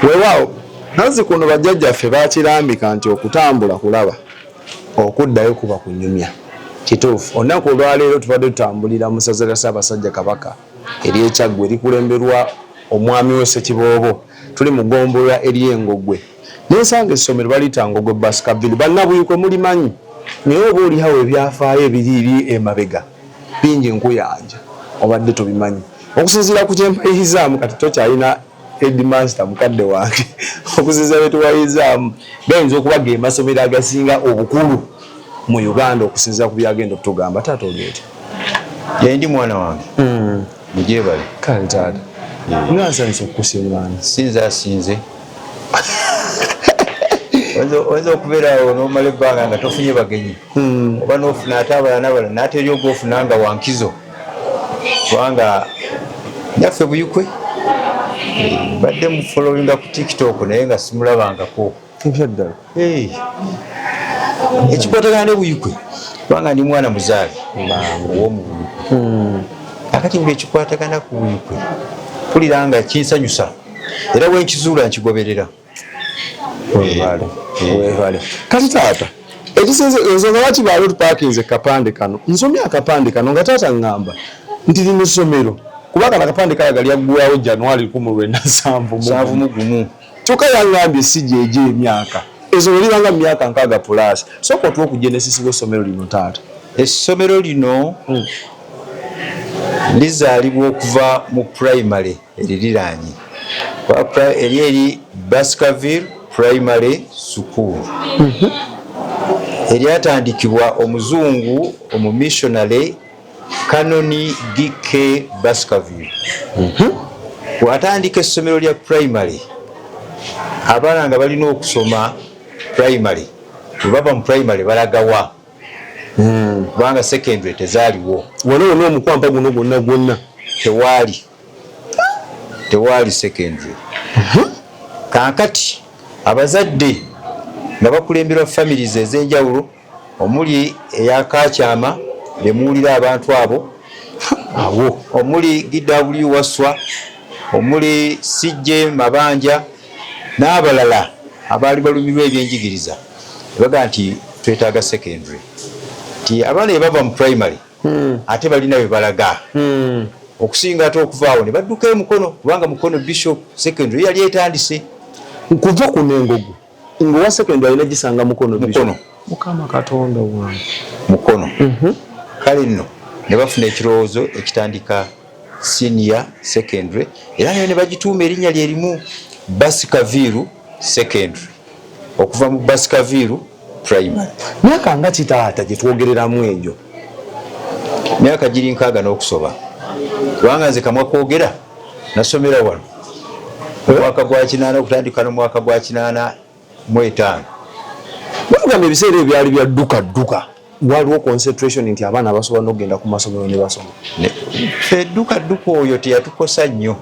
Weewaawo nazzikuno bajjajjaffe baakirambika nti okutambula kulaba, okuddayo kuba kunyumya. Kituufu, olunaku olwaleero tubadde tutambulira mu ssaza lya Ssaabasajja Kabaka ery'e Kyaggwe erikulemberwa Omwami we Ssekiboobo. Tuli mu ggombolola ery'e Ngogwe ne nsanga essomero baliyita Ngogwe Bus Cabin. Bannabuikwe mulimanyi naye oba oliawo ebyafaayo ebiriiri emabega bingi nkuyanja obadde tobimanyi. Okusinziira ku kye mpayirizzaamu kati tokyalina headmaster mukadde wange okuziza betuwayizaamu gayinza okuba ge masomero agasinga obukulu mu uganda okusinzira ku byagenda okutugamba taata olieti yendi mwana wange hmm. mujebale kale taata nga nsanyusa okukusimaana sinza asinze oyinza okubeeraawo nomala ebbanga nga tofunye bagenyi hmm. oba nofuna ate abalala nabalala naate eri ogwofuna nga wankizo kubanga nyaffe buyukwe badde mu followinga ku tiktok naye nga simulabangako ebyaddala ekikwatagana ne buyukwe kubanga ndi mwana muzaale owomu buyukwe hmm. akati buli ekikwatagana ku buyukwe mpulira nga kinsanyusa era wenkizuula nkigoberera webale eh, webale eh. kati taata ekisinze nze nga lwaki baali tupakinze kapande kano nsomye akapande kano nga taata ngamba nti lino ssomero kuba kano akapande kalaga lyaggwawo januari kumu lwenasanvu mugumu kyokka yangambye si gyegyo emyaka ezo lelibanga mu myaka nkaaga pulaasi sooka otuwa okugenesisibwa essomero lino taata essomero lino hmm. lizaalibwa okuva mu primary eririraanye eri eri Baskerville Primary School mhm. eryatandikibwa omuzungu omumissionary Kanoni DK Baskerville mhm. bw'atandika essomero lya primary abaana nga balina okusoma primary bwebava mu primary balagawa hmm. kubanga secondary tezaaliwo waliwo n'omukwampa guno gwonna gwonna tewaali tewaali secondary mhm. kankati abazadde nga bakulemberwa families ezenjawulo omuli eyakakyama bemuwulira abantu abo awo omuli gw waswa omuli cj mabanja n'abalala abaali balumirwa ebyenjigiriza ebaga nti twetaaga secondary nti abaana ebava mu primary hmm. ate balina webalaga hmm. okusinga ate okuvaawo ne badduka emukono kubanga mukono bishop secondary yali etandise nkuva kuno engogo ngowa secondary alina gisanga mukono mukono mukama katonda wange mukono mhm. kale nno ne bafuna ekirowoozo ekitandika Senior Secondary era nayo ne bagituuma erinnya lye limu Basi Kaviiru Secondary okuva mu Basi Kaviiru Primary. Myaka nga ki taata gye twogereramu egyo? Myaka giri nkaaga n'okusoba kubanga nze kamwa kwogera nasomera wano omwaka gwa kinaana okutandika n'omwaka gwa kinaana mu etaano bamugamba ebiseera ebyo byali bya dduka dduka waliwo concentration nti abaana basobola n'okugenda ku masomero ne basoma fe dduka dduka oyo teyatukosa nnyo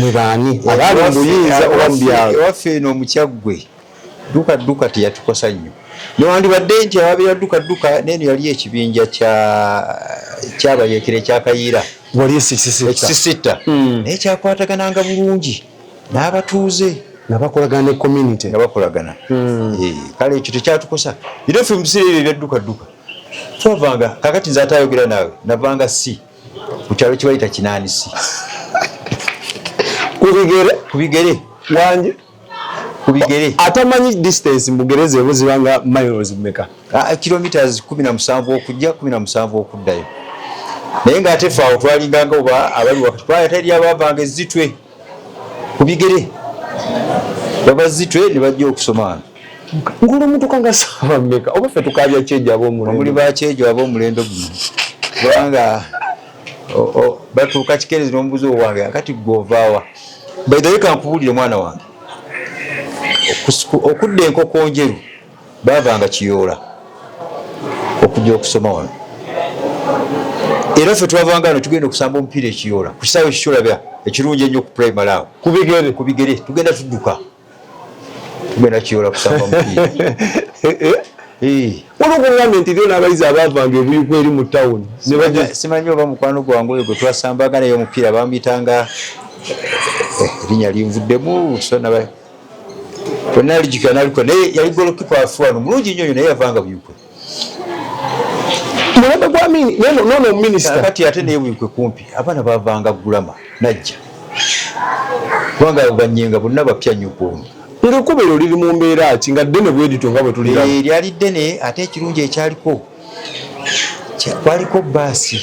mwebaani abaali muyinza oba mubyalo ewaffe eno omukyaggwe dduka dduka teyatukosa nnyo newandibadde nti ababira dduka dduka neeno yali ekibinja kyabayeekera ekyakayiira wali ekisisitta hmm. naye kyakwatagananga bulungi n'abatuuze nga bakolagana ne community nga bakolagana hmm. eh, kale ekyo tekyatukosa era ffe mu biseera ebyo ebyaddukadduka twavanga kakati nze ate ayogera naawe navanga si ku kyalo kibayita kinaani si kubigere kubigere wanje kubigere atamanyi distance mugereze buzibanga miles meka ah, kilometres kumi na musanvu okujja kumi na musanvu okuddayo naye nga ate fe awo twalinganga oba abali wakati kubanga teri abavanga ezitwe ku bigere baba zitwe ne bajja okusomaana ngulu omuntu kanga saba meka oba fe tukabya kyejo ab'omulendo omuli ba kyejo ab'omulendo guno kubanga batuuka kikeerezi n'omubuzi owange akati gwovaawa baidhaweka nkubuulire mwana wange okudda enkokonjeru Baavanga Kiyoola okujja okusoma wano era ffe twavanga wano tugenda okusamba omupiira ekiyoola ku kisaawe kikyolabya ekirungi ennyo ku primary awo kubigere kubigere tugenda tudduka tugenda kiyoola kusamba omupiira olwokugambe nti lyo n'abayizi abaavanga ebuyuku eri mu tawuni simanyi oba mukwano gwange oyo gwe twasambanga naye omupiira bamuyitanga eh, erinnya linvuddemu kwenalijika nalikuwa naye yali golokipa afuano mulungi nyo nyo naye yavanga buyukwe mulembe gwa mini nono nono minister kati ate naye buyukwe kumpi abana bavanga gulama najja kubanga banyenga bonna bapya nyo kuono ngekubero liri mu mbeera ki nga ddene bwedito nga bwe tulira eh, lyali ddene ate ekirungi ekyaliko kwaliko baasi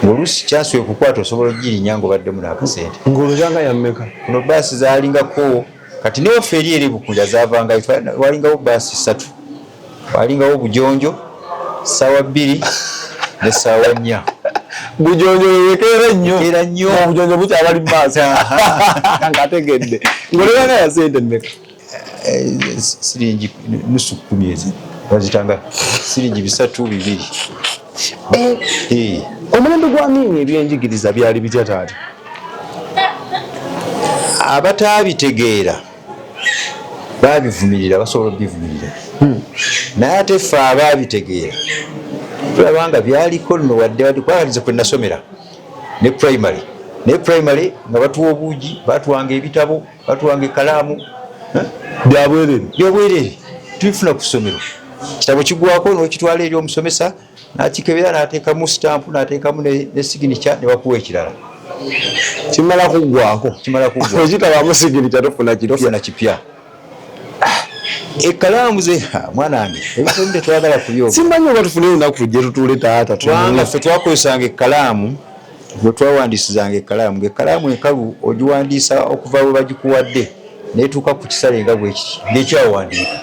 ngoluusi kyasobola okukwata osobola okugirinya ngaobadde muno akasente ngaolubanga yammeka kuno baasi zaalingako kati newaffe eri eri bukunja zavangayo walingawo baasi ssatu walingawo bujonjo ssaawa bbiri ne ssaawa nnya bujonjo wewekeera nnyo era nnyo obujonjo bukyabali baasi ngategedde ngaolubanga yasente mmeka eh, siringi nusu kumi ezi bazitanga siringi bisatu bibiri eh, eh. omulembe gwa miini ebyenjigiriza byali bitya taata abataabitegeera baabivumirira basobola obivumirira hmm. naye ate fe abaabitegeera tulaba nga byaliko nno wadde wadde kwakatiza kwe nasomera ne primary naye primary nga batuwa obuugi batwanga ebitabo batuwanga ekalaamu eh? byabwerere byobwerere tubifuna ku ssomero kitabo kigwako nokitwala eri omusomesa nakikebera natekamu sitampu natekamu ne siginicha nebakuwa ekirala kimala kugwako kimala kugwa okitabamu siginicha tofuna kitofuna kipya ekalaamu ze mwanange ebitoni tetwagala kubyoga simanyi oba tufuneyo naku tujje tutuule taata kubanga fe twakozesanga ekalaamu Gwe twawandiisizanga ekkalaamu ng'ekkalaamu enkalu ogiwandiisa okuva bwe bagikuwadde n'etuuka ku kisale nga bwe kiti ng'ekyawandiika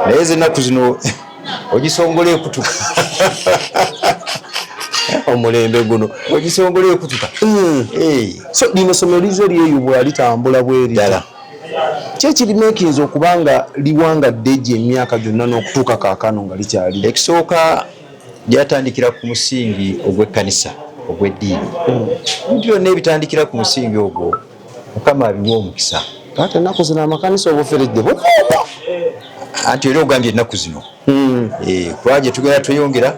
naye z'ennaku zino ogisongola ekutuka omulembe guno ogisongola ekutuka hmm. so lino somo lize lyeyubwa litambula bweridala kyekirimekinza okuba nga liwangadde egyo emyaka gyonna n'okutuuka kaakano nga likyali ekisooka byatandikira ku musingi ogw'ekkanisa ogw'eddiini ebintu byonna ebitandikira ku musingi ogwo mukama abiwa omukisa ate ennaku zino amakanisa obuferedde bukuuta anti era ogambye ennaku zino hmm. eh, kuba gye tugenda tweyongera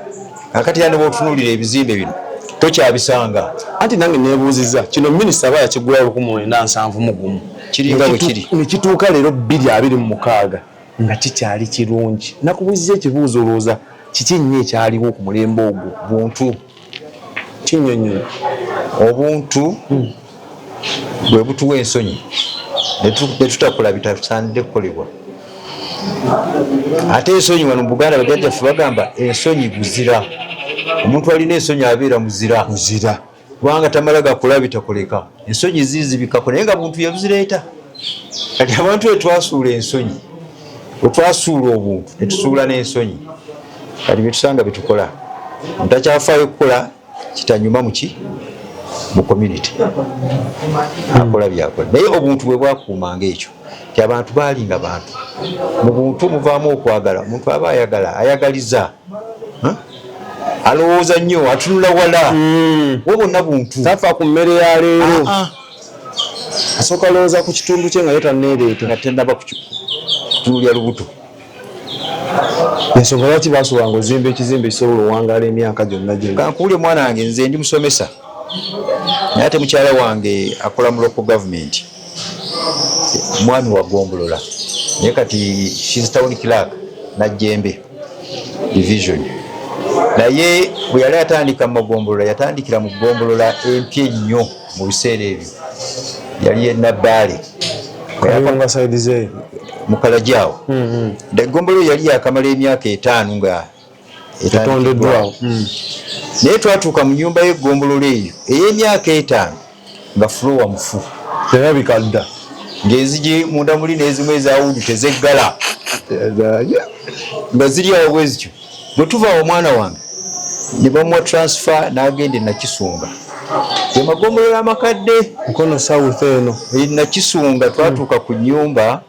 akati yanoba otunuulira ebizimbe bino tokyabisanga anti nange nebuuziza kino minisita aba yakigulawo lukumu lwenda nsanvu mugumu kiri nga bwe kiri nekituuka leero bbiri abiri mu mukaaga nga kikyali kirungi nakubuziza ekibuuzo olowooza kiki nnyo ekyaliwo ku mulembe ogwo buntu kinyonyola obuntu hmm. bwe butuwa ensonyi netutakula bitasaanidde kukolebwa ate ensonyi wano mubuganda bajajjaffe bagamba ensonyi buzira omuntu alina ensonyi abeera muzira muzira kubanga tamala gakola bitakoleka ensonyi zizibikako naye nga buntu yabuzireeta kati abantu etwasuula ensonyi wetwasuula obuntu netusuula n'ensonyi kati byetusanga byetukola ntakyafaayo kukola kitanyuma muki mu community akola byakola naye obuntu bwe bwakuumanga ekyo nti abantu baalinga bantu mu buntu muvaamu okwagala omuntu aba ayagala ayagaliza alowooza nnyo atunula wala hmm. wo bonna buntu tafa ku mmere ya leero ah, ah. asooka lowooza ku kitundu kye nga ye tanneereeta nga tennaba kutunulya lubuto ensonga lwaki basobanga ozimba ekizimba ekisobola owangala emyaka gyonna gyekankuwulye mwana wange nze ndi musomesa naye ate mukyala wange akola mu local gavumenti mwami wa gombolola naye kati she's town clerk najjembe division naye bwe yali atandika mu magombolola yatandikira mu gombolola empya ennyo mu biseera ebyo yali enabbaale mukalajawo mm-hmm. egombolola yali yakamala emyaka etaano nga etondeddwawo hmm. naye twatuuka mu nyumba y'eggombolola eyo ey'emyaka etaano nga fulowa mufu erabika dda ng'enzigi munda muli n'ezimu ezawudu tezeggala nga ziri awo bwe zityo bwe tuva awo omwana wange ne bamuwa transfer n'agenda enakisunga gemagombolola amakadde mukono south eno enakisunga twatuuka ku nyumba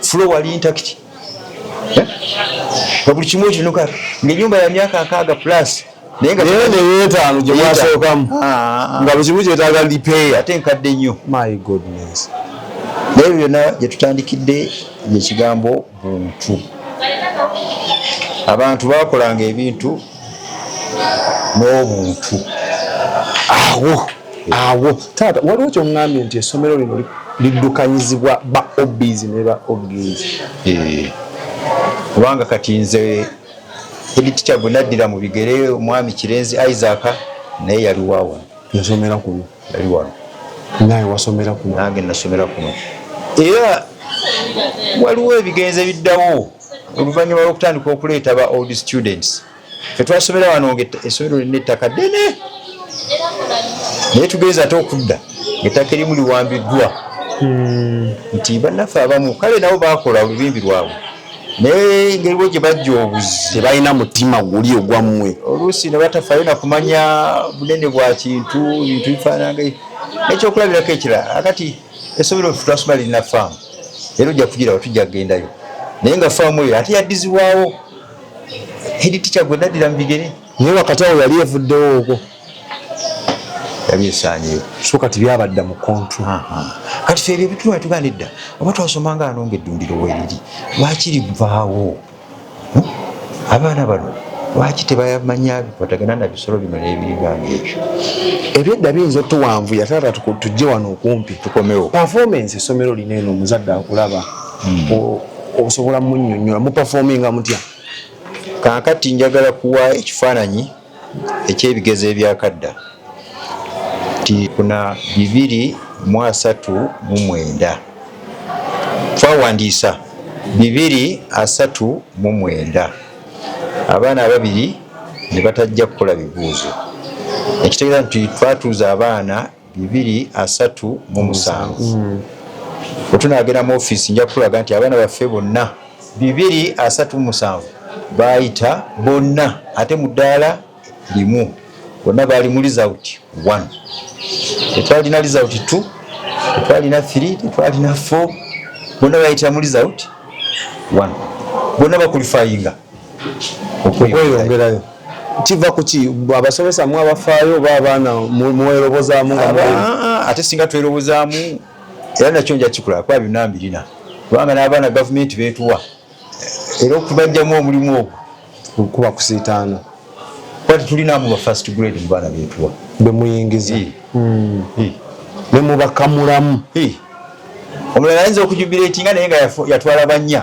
fulo wali intakiti eh? nga buli kimu ekinuka ngaenyumba ya myaka nkaaga plus naye nga neyetaano gye mwasookamu ah, ah, ah. nga buli kimu kyetaaga lipeeya ate nkadde nnyo my goodness naye byonna gye tutandikidde ekigambo buntu abantu bakolanga ebintu n'obuntu awo awo taata waliwo kyoŋŋambye nti essomero lino liddukanyizibwa ba obs ne ba obgs eh. kubanga kati nze editica gwe naddira mu bigere omwami kirenzi isaac naye yali wawo yasomera kuno yali wano naye wasomera kuno nange nasomera kuno era waliwo ebigenze biddawo oluvannyuma lwokutandika okuleeta ba old students fetwasomera wano nga esomero lina ettaka ddene naye tugenza ate okudda ngaettaka erimu liwambiddwa hmm. nti bannaffe abamu kale nabo bakola olubimbi lwabwe naye engeri bwe gye bajja obuzi tebalina mutima guli ogwammwe oluusi ne batafayo nakumanya bunene bwa kintu bintu bifaananga ekyokulabirako ekirala akati Esomero ffe twasoma lirina faamu era ojja kugirawo tujja kugendayo naye nga faamu eyo ate yaddizibwawo hedi tikya gwe naddira mu bigere naye wakati awo yali evuddewo okwo yali esaanyeyo so kati byabadda mu kontu kati fe ebyo ebituma tuganidda oba twasoma nga anonga eddundiro weriri lwakiri guvaawo hmm? abaana bano lwaki tebayamanya bikwatagana na bisolo bino n'ebiringanga ebyo ebyedda biyinza otuwanvu yatata tujje wano okumpi tukomewo performance essomero lino eno omuzadde akulaba hmm. osobola munyonyola muperforminga mutya kakati njagala kuwa ekifaananyi eky'ebigezo ebyakadda nti kuna bibiri mu asatu mu mwenda twawandiisa bibiri asatu mu mwenda abaana ababiri ne batajja kukola bibuuzo ekitegeeza nti twatuuza abaana bibiri asatu mu musanvu bwe tunaagenda mu ofiisi nja kukulaga nti abaana baffe bonna bibiri asatu mu musanvu baayita bonna ate mu ddaala limu bonna baali mu lizawuti one tetwalina lizawuti two tetwalina three tetwalina four bonna baayitira mu lizawuti one bonna bakulifayinga okweyongerayo kiva kuki abasomesa mu abafaayo oba abaana mwerobozaamu ah, ah, ate singa twerobozaamu era nakyo nja kikola kuba byonna mbirina kubanga n'abaana gavumenti beetuwa era okubajjamu omulimu ogwo kuba kusiitaana kuba tetulinamu ba first grade mu baana beetuwa bemuyingiza hmm. ne mubakamulamu omulala ayinza okujubira ekinga naye nga yatwala bannya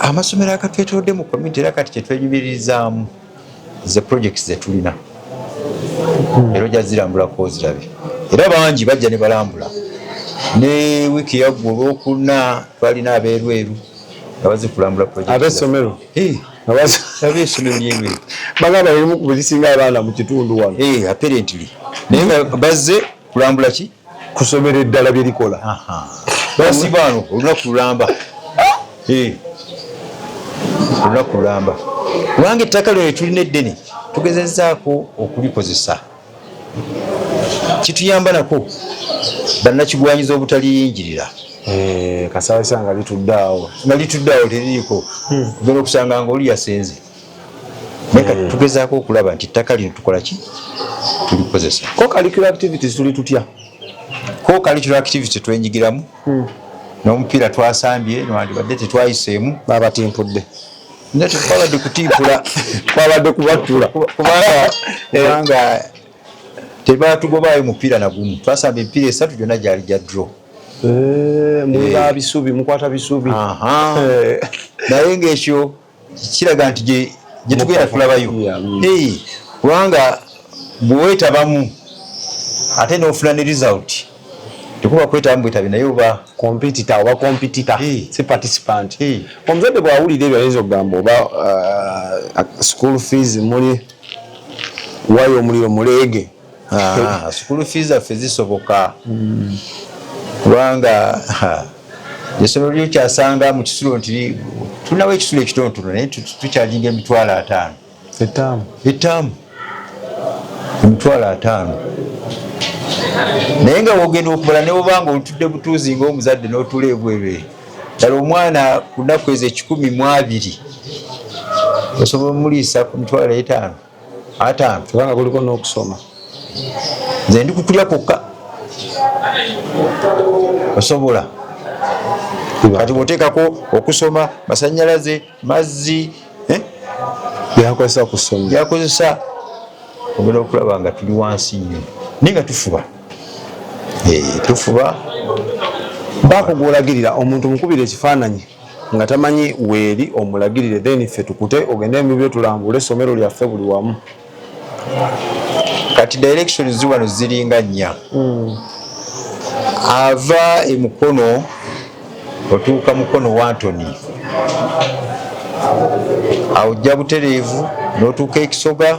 amasomero agatwetolodde mu community era kati kyetwenyumiririzaamu ze projects zetulina hmm. era ojja zirambulako ozirabe era bangi bajja ne balambula ne wiiki yaggwa olwokuna twalina abeerweru nga bazikulambula projektesomero abesomero lyerweru bagamba erimu kuzisinga abaana mu kitundu wano eh, apparently naye nga bazze kulambula ki kusomera eddala bye likola basibaano olunaku lulamba eh. olunaku lulamba kubanga ettaka lyo netulina eddene tugezezaako okulikozesa kituyamba nako bannakigwanyiza obutaliyingirira eh, kasabisa nga litudde awo nga litudde awo teririiko hmm. ogenda okusanga nga oli yasenze naye kati tugezaako okulaba nti ettaka lino tukola ki tulikozesa ko curricular activities tuli tutya ko curricular activity twenyigiramu hmm. n'omupiira twasambye nwandibadde tetwayiseemu babatimpudde naye tetwabadde kutimpula twabadde kubattula kubanga eh, tebatugobaayo mupiira nagumu twasamba emipiira esatu gyonna gyali gya draw eh, muba eh. bisubi mukwata bisubi naye ngaekyo kiraga nti gye tugenda kulabayo kubanga bwewetabamu ate nofuna ne result tekuba kwetabamu bwetabi naye oba competita oba competita si participant omuzadde bwawulira ebyo ayinza okugamba oba uh, school fees muli wayo omuliro muleege Ah, sukulu fee zaffe zisoboka hmm. kubanga esomero lyokyasanga mu kisulo nti tulinawo ekisulo ekitontono naye tukyajinga emitwalo ataano ettaamu emitwalo ataano naye nga wogenda okubala newobanga olutudde butuuzi ngaomuzadde notula ebwebere dala omwana ku nnaku ezo ekikumi mu abiri osobola omuliisa ku mitwalo etaano ataano kubanga kuliko n'okusoma nze ndi kukulya kwokka osobola kati bwoteekako okusoma masanyalaze mazzi eh? byakozesa kusoma byakozesa ogenda okulaba nga tuli wansi nnyo naye nga tufuba eh, tufuba baako gwolagirira omuntu mukubira ekifaananyi nga tamanyi weeri omulagirire then ffe tukute ogende mubibyo tulambule essomero lyaffe buli wamu kati direction ziwano ziringa nnya hmm. ava emukono otuuka mukono wantoni awo jja butereevu n'otuuka ekisoga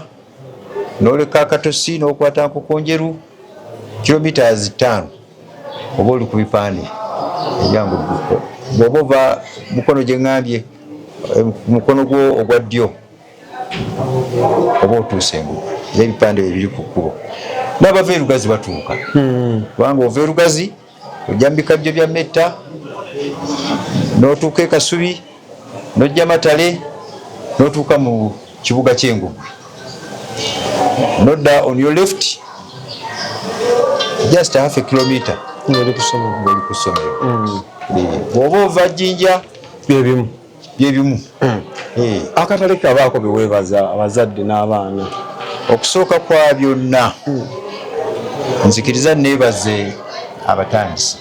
noleka akatosi nokwata nkukunjeru kilometres tano oba oli kubipande ebyangu bwoba ova mukono gyengambye eh, mukono gwo ogwa ddyo oba otuuse engu ebipande bebiri ku kkubo nabava erugazi batuuka hmm. kubanga ova erugazi ojja mu bikajjo bya metta n'otuuka e kasubi n'ojja matale n'otuuka mu kibuga ky'engugwe nodda on your left just half a kilometer ng'oli ku ssomero mm. bw'oba ova jjinja bye bimu byebimu hmm. eh. akatale kabaako beweebaza abazadde n'abaana okusooka kwa byonna hmm. nzikiriza neebaze abatandisi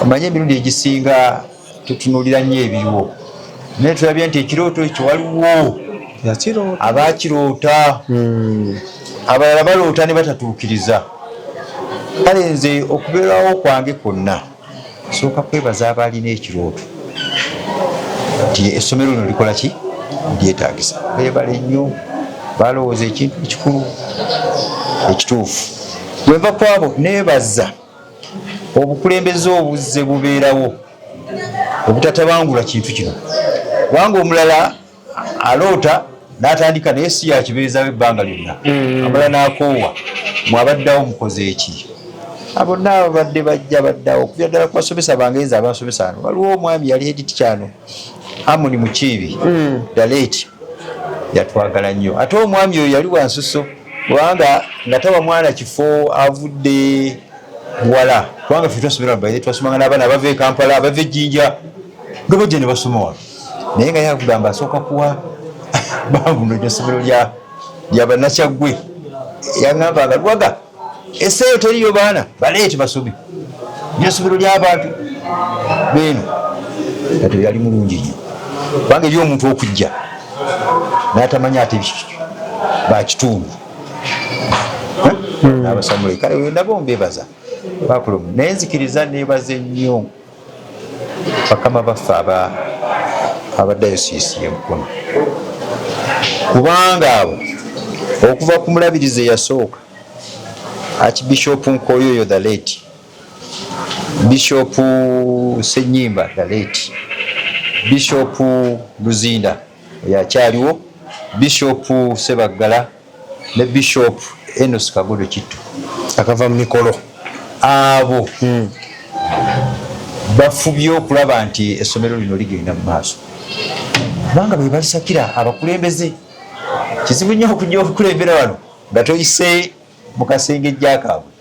omanye emirundi egisinga tutunulira nnyo ebiriwo naye tulabye nti ekirooto ekyo waliwo abakiroota hmm. abalala baloota ne batatuukiriza kale nze okubeerawo kwange kwonna Nsooka kwebaza abaalina ekirooto nti essomero lino likola ki lyetaagisa. Beebale nnyo, baalowooza ekintu ekikulu ekituufu. Bwe nva ku abo neebaza obukulembeze obuzze bubeerawo obutatabangula kintu kino kubanga omulala aloota natandika naye si yakibeezawo ebbanga lyonna mm. amala nakoowa mwabaddawo mukoze eki abo naabo badde bajja baddawo okuvira ddala kubasomesa bange nze abasomesa ano waliwo omwami yali editi kyano amuni mukiibi mm. daleeti yatwagala nnyo ate omwami oyo yali wansuso kubanga nga tawa mwana kifo avudde wala kubanga fe twasomera baye twasomanga n'abaana abava e kampala abava ejjinja nga bajja ne basoma wano naye nga yakugamba asooka kuwa babuno eryo somero lyabanakyaggwe yaŋamba nga lwaga eseeyo teriyo baana baleeti basubi lyesomero lyabantu beeno kati yali mulungi nyo kubanga eri omuntu okujja natamanya ate bakitundu hmm. nabasamulekale nabo mbebaza bakulumu naye nzikiriza nebaze nnyo bakama baffe aba abadayosiisi yemukono kubanga abo okuva ku mulabirizi eyasooka akibishopu nkoyoyo the late bishopu senyimba the late bishopu luzinda eyakyaliwo bishopu sebaggala ne bishop enos kagodo kitto akava mu mikolo abo hmm. bafubye okulaba nti essomero lino ligenda mu maaso kubanga bebalisakira abakulembeze kizibu nnyo okuja okukulembera wano nga toyise mu kasenge jjakaabwe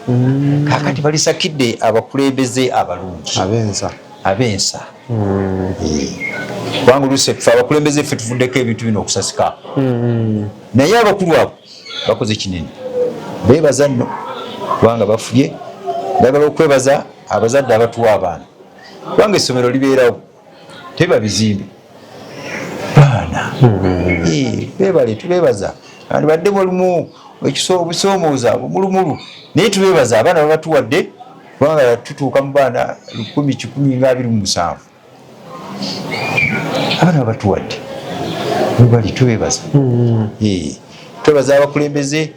mm. kakati balisakidde abakulembeze abalungi abensa abensa mm. eh. kubanga oluusi ffe abakulembeze ffe tuvuddeko ebintu bino okusasika mm. naye abakulu abo bakoze kinene bebaza nno kubanga bafubye bagala okwebaza abazadde abatuwa abaana kubanga essomero libeerawo teba bizimbe baana bebale tubebaza andibadde mulimu ekisoobusoomooza bumulumulu naye tubebaza abaana babatuwadde kubanga tutuuka mu baana lukumi kikumi nga abiri mu musanvu abaana babatuwadde webali tubebaza hmm. twebaza abakulembeze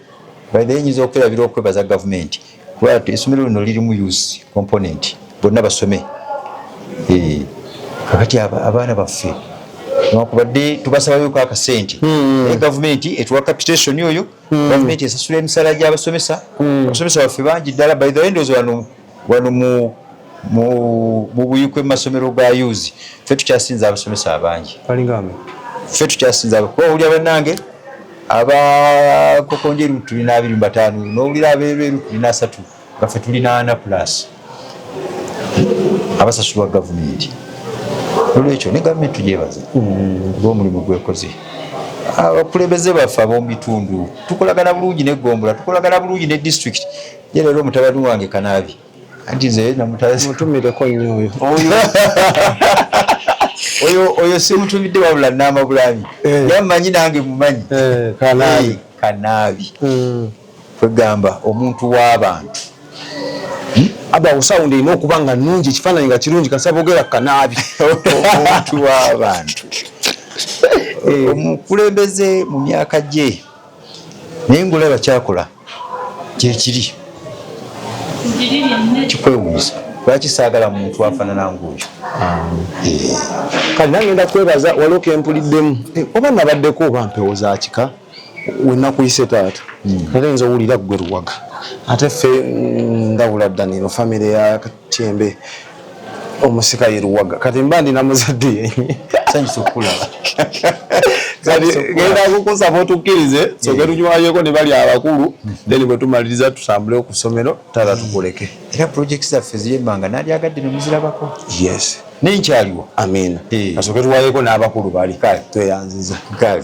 baenyinza okwerabira okwebaza gavumenti kuba esomero lino lirimu use component bonna basome eh, kakati abaana baffe newakubadde tubasabaweko akasente hmm. naye gavumenti etuwa capitation oyo hmm. gavumenti esasula emisala gyabasomesa hmm. abasomesa baffe bangi ddala by the endozi wano wano mu mu buyikwe mu masomero ga yuzi ffe tukyasinza abasomesa abangi ffe tukyasinza kuba owulira bannange abakokonjeru tulina abiri mubataano nowulira abeereeru tulina asatu nga ffe tulina ana plus abasasulwa gavumenti olwekyo ne gavumenti tugyebaza mm. omulimu gwekoze abakulembeze baffe abomubitundu tukolagana bulungi negombola tukolagana bulungi ne district ye leero omutabani wange kanabi anti nze namutazi mutumireko nnyo oyo oyo oyo simutumidde wabula naama bulabi eh. naye mumanyi nange mumanyi eh, kanaabi eh, kanaabi hmm. kwegamba omuntu w'abantu hmm? abawo sawundi erina okuba nga nungi ekifaananyi nga kirungi kasaba ogera kanaabi omuntu w'abantu omukulembeze mu myaka gye naye ngaolaba kyakola kyekiri kikwewuuza lwaki saagala muntu afanana ngaoyo eh. kale nangenda kwebaza waliwo kempuliddemu eh, oba nabaddeko oba mpewo za kika wenakuyise taata hmm. era nza owulira gwe luwaga ate ffe mm, ndawula ddanino famiry ya Tyembe omusika ye luwaga kati mba ndina muzadde yenye sanyusa okukulaba genda kukusaba otukkirize soke tunywalyeko ne bali abakulu mhm. then bwe tumaliriza tutambule oku ssomero taata tukuleke era projects zaffe ziri ebbanga nalyagadde ne muzirabako yes naye nkyaliwo amiina eh. kasooke tuwayeko n'abakulu bali tweyanziza kale